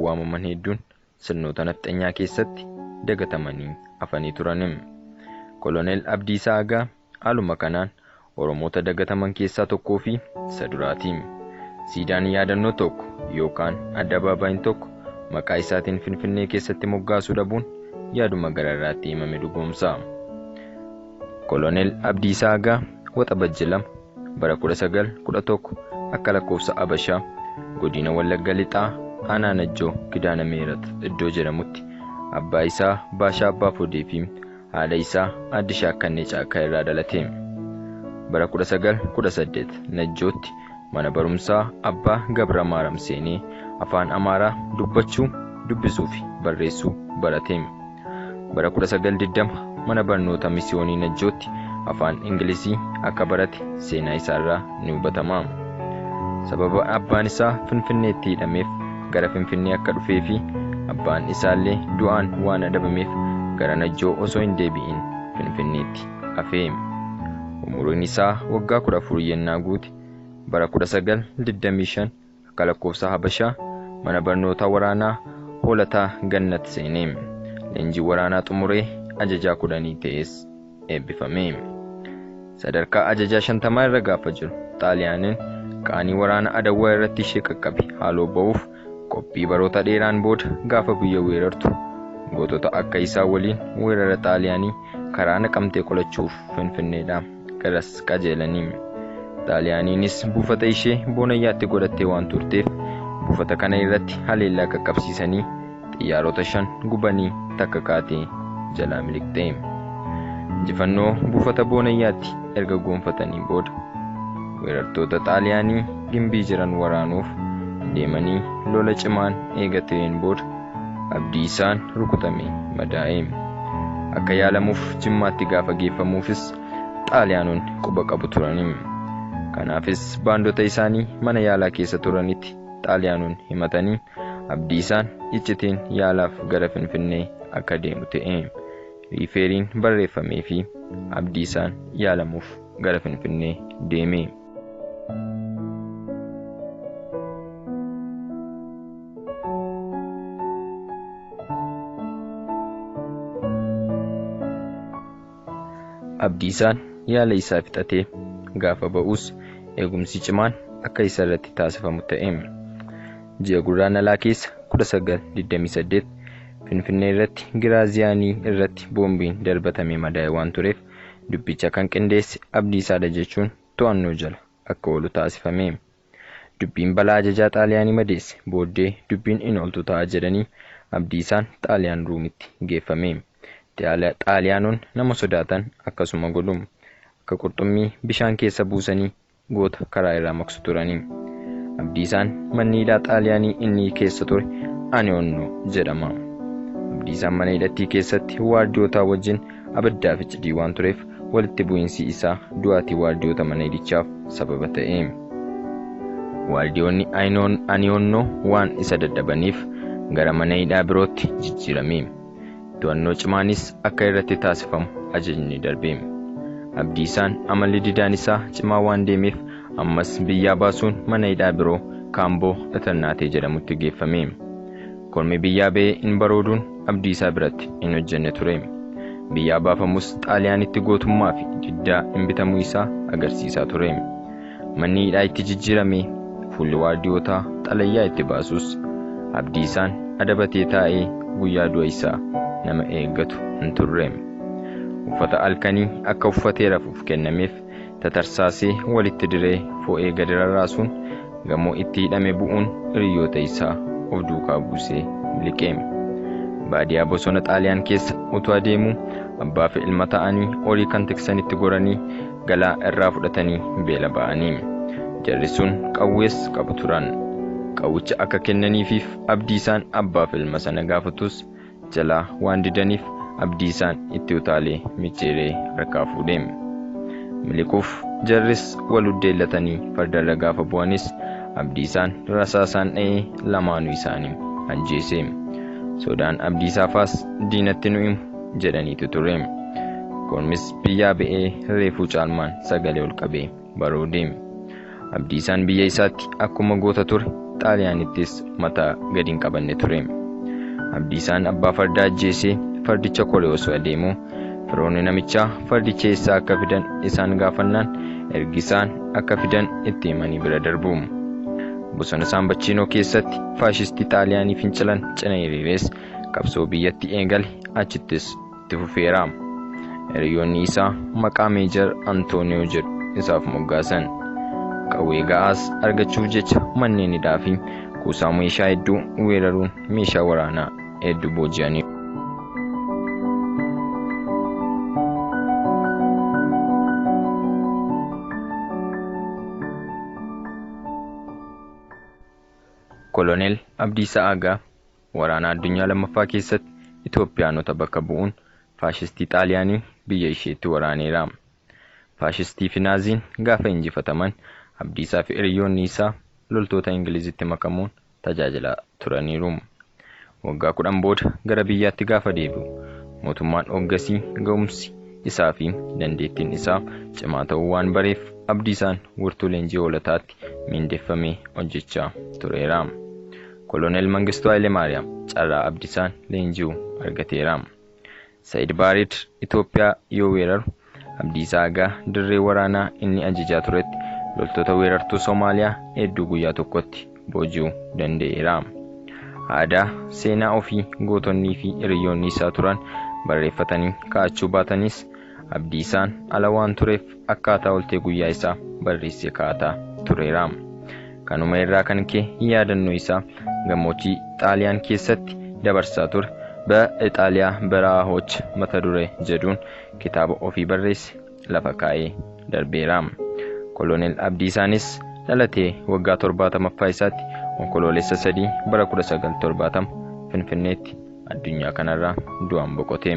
waamaman hedduun sirnoota nafxanyaa keessatti dagatamanii hafanii turan. Koloneel Abdiisaa Agaa haaluma kanaan Oromoota dagataman keessaa tokkoo fi isa duraati. Siidaan yaadannoo tokko yookaan addabaabaayiin tokko maqaa isaatiin Finfinnee keessatti moggaasuu dhabuun yaaduma gararraatti himame dhugoomsa. Koloneel Abdiisaa Agaa Waxabajji 2, Bara 1911 akka lakkoofsa Abashaa Godina Wallagga Lixaa Aanaa Najjoo Kidaana Mihirat iddoo jedhamutti abbaa isaa Baashaa Abbaa Fodee fi haadha isaa Aadde Shaakkannee Caakkaa irraa dhalate. Bara 1918 Najjootti mana barumsaa Abbaa Gabramaaram seenee Afaan Amaaraa dubbachuu, dubbisuu fi barreessuu barate. Bara 1920 mana barnoota misiyoonii Najjootti afaan Ingilizii akka barate seenaa isaarraa ni hubatama. Sababa abbaan isaa Finfinneetti hidhameef gara Finfinnee akka dhufee fi abbaan isaallee du'aan waan adabameef gara Najjoo osoo hin deebi'in Finfinneetti hafe. Umuriin isaa waggaa 14 yennaa guute bara 1925 Akka lakkoofsa Habashaa mana barnootaa waraanaa Hoolataa Gannat seenee leenjii waraanaa xumuree ajajaa kudhanii ta'ees eebbifame. Sadarkaa ajajaa shantamaa irra gaafa jiru Xaaliyaaniin qaanii waraana Adawwaa irratti ishee qaqqabe haaloo ba'uuf qophii baroota dheeraan booda gaafa biyya weerartu gootota akka isaa waliin weerara Xaaliyaanii karaa Naqamtee qolachuuf Finfinneedhaa garas qajeelanii. Xaaliyaaniinis buufata ishee Boonayyaatti godhattee waan turteef buufata kana irratti haleellaa qaqqabsiisanii xiyyaarota shan gubanii takka kaatee jalaa miliqxe. Injifannoo buufata Boonayyaatti erga goonfatanii booda weerartoota Xaaliyaanii gimbii jiran waraanuuf deemanii lola cimaan eega ta'een booda Abdiisaan rukutame madaa'e. Akka yaalamuuf Jimmaatti gaafa geeffamuufis Xaaliyaanonni quba qabu turani. Kanaafis baandota isaanii mana yaalaa keessa turanitti Xaaliyaanonni himatanii Abdiisaan iccitiin yaalaaf gara Finfinnee akka deemu ta'e. Riifeeriin barreeffameefii Abdiisaan yaalamuuf gara Finfinnee deeme. Abdiisaan yaala isaa fixatee gaafa ba'us eegumsi cimaan akka isa irratti taasifamu ta'e. Ji'a Gurraandhalaa keessa 1928 Finfinnee irratti Giraaziyaanii irratti boombiin darbatamee madaa'e waan tureef Dubbicha kan qindeesse Abdiisaadha jechuun to'annoo jala akka oolu taasifame. Dubbiin balaa ajajaa Xaaliyaanii madeesse booddee dubbiin hin ooltu ta'a jedhanii Abdiisaan Xaaliyaan Ruumitti geeffame. Xaaliyaanonni nama sodaatan akkasuma godhu. Akka qurxummii bishaan keessa buusanii goota karaa irraa maqsu turani. Abdiisaan manni hidhaa Xaaliyaanii inni keessa ture Anionno jedhama. Abdiisaan mana hidhattii keessatti waardiyootaa wajjin abiddaa fi cidii waan tureef walitti bu'iinsi isaa du'aatii waardiyoota mana hidhichaaf sababa ta'e. Waardiyoonni Anionno waan isa dadhabaniif gara mana hidhaa birootti jijjiirame. To'annoo cimaanis akka irratti taasifamu ajajni darbe. Abdiisaan amalli didaan isaa cimaa waan deemeef ammas biyyaa baasuun mana hidhaa biroo Kaamboo Dhatannaatee jedhamutti geeffame. Kormi biyyaa ba'ee hin barooduun Abdiisaa biratti hin hojjenne ture. Biyyaa baafamus Xaaliyaanitti gootummaa fi diddaa hin bitamuu isaa agarsiisaa ture. Manni hidhaa itti jijjiirame, fuulli waardiyootaa xalayaa itti baasus Abdiisaan adabatee taa'ee guyyaa du'a isaa nama eeggatu hin turre. Uffata halkanii akka uffatee rafuuf kennameef tatarsaasee walitti diree fo'ee gadi rarraasuun gamoo itti hidhame bu'uun hiriyyoota isaa of duukaa buusee miliqe. Baadiyaa bosona Xaaliyaan keessa utuu adeemuu abbaafi ilma ta'anii horii kan tiksanitti goranii galaa irraa fudhatanii beela ba'ani. Jarri sun qawwees qabu turan. Qawwicha akka kennaniifiif Abdiisaan abbaaf ilma sana gaafatus jalaa waan didaniif Abdiisaan itti utaalee micciiree harkaa fuudhe. Miliquuf jarris wal uddeellatanii fardarra gaafa bu'anis Abdiisaan rasaasaan dha'ee lamaanuu isaanii ajjeese. Sodaan Abdiisaafaas diinatti nu himu jedhaniitu ture. Kormis biyyaa ba'ee reefuu caalmaan sagalee ol qabee baroode. Abdiisaan biyya isaatti akkuma goota ture xaaliyaanittis mataa gadi hin qabanne ture. Abdiisaan abbaa fardaa ajjeesee fardicha koree osoo adeemu firoonni namichaa fardicha eessaa akka fidan isaan gaafannaan ergi isaan akka fidan itti himanii bira darbu. Bosona Saambachiinoo keessatti faashistii xaaliyaanii fincilan cina hiriires qabsoo biyyatti eegale achittis itti fufeera. Hiriyoonni isaa maqaa Meejar Antooniyoo jedhu isaaf moggaasan. Qawwee ga'aas argachuuf jecha manneen hidhaa fi kuusaa meeshaa hedduu weeraruun meeshaa waraanaa hedduu booji'aniiru. Koloneel Abdiisaa Agaa Waraana Addunyaa Lammaffaa keessatti Itoophiyaanota bakka bu'uun faashistii Xaaliyaanii biyya isheetti waraaneera. Faashistiifi Naaziin gaafa injifataman Abdiisaafi hiriyyoonni isaa loltoota Ingilizitti makamuun tajaajilaa turaniiru. Waggaa kudhan booda gara biyyaatti gaafa deebi'u mootummaan oggasii ga'umsi isaafi dandeettiin isaa cimaa ta'uu waan bareef Abdiisaan wirtuu leenjii hoolotaatti miindeffamee hojjechaa tureera. Koloneel Mangistuu Hayilemaariyaam carraa Abdisaan leenji'u argateera. Sa'id Baareed Itoophiyaa yoo weeraru, Abdiisaa Agaa dirree waraanaa inni ajajaa turetti loltoota weerartuu Somaaliyaa hedduu guyyaa tokkotti booji'u danda'eera. Aadaa, seenaa ofii gootonnii fi hiriyyoonni isaa turan barreeffatanii kaa'achuu baatanis, Abdii isaan ala waan tureef akkaataa oltee guyyaa isaa barreessee kaa'ataa tureera. Kanuma irraa kan ka'e yaadannoo isaa gammoojjii Xaaliyaan keessatti dabarsaa ture Be Ixaaliyaa Beraahoch mata duree jedhuun kitaaba ofii barreesse lafa kaa'ee darbeera. Koloneel Abdii isaanis dhalatee waggaa 70ffaa isaatti Onkoloolessa 3 bara 1970 Finfinneetti addunyaa kanarraa du'aan boqote.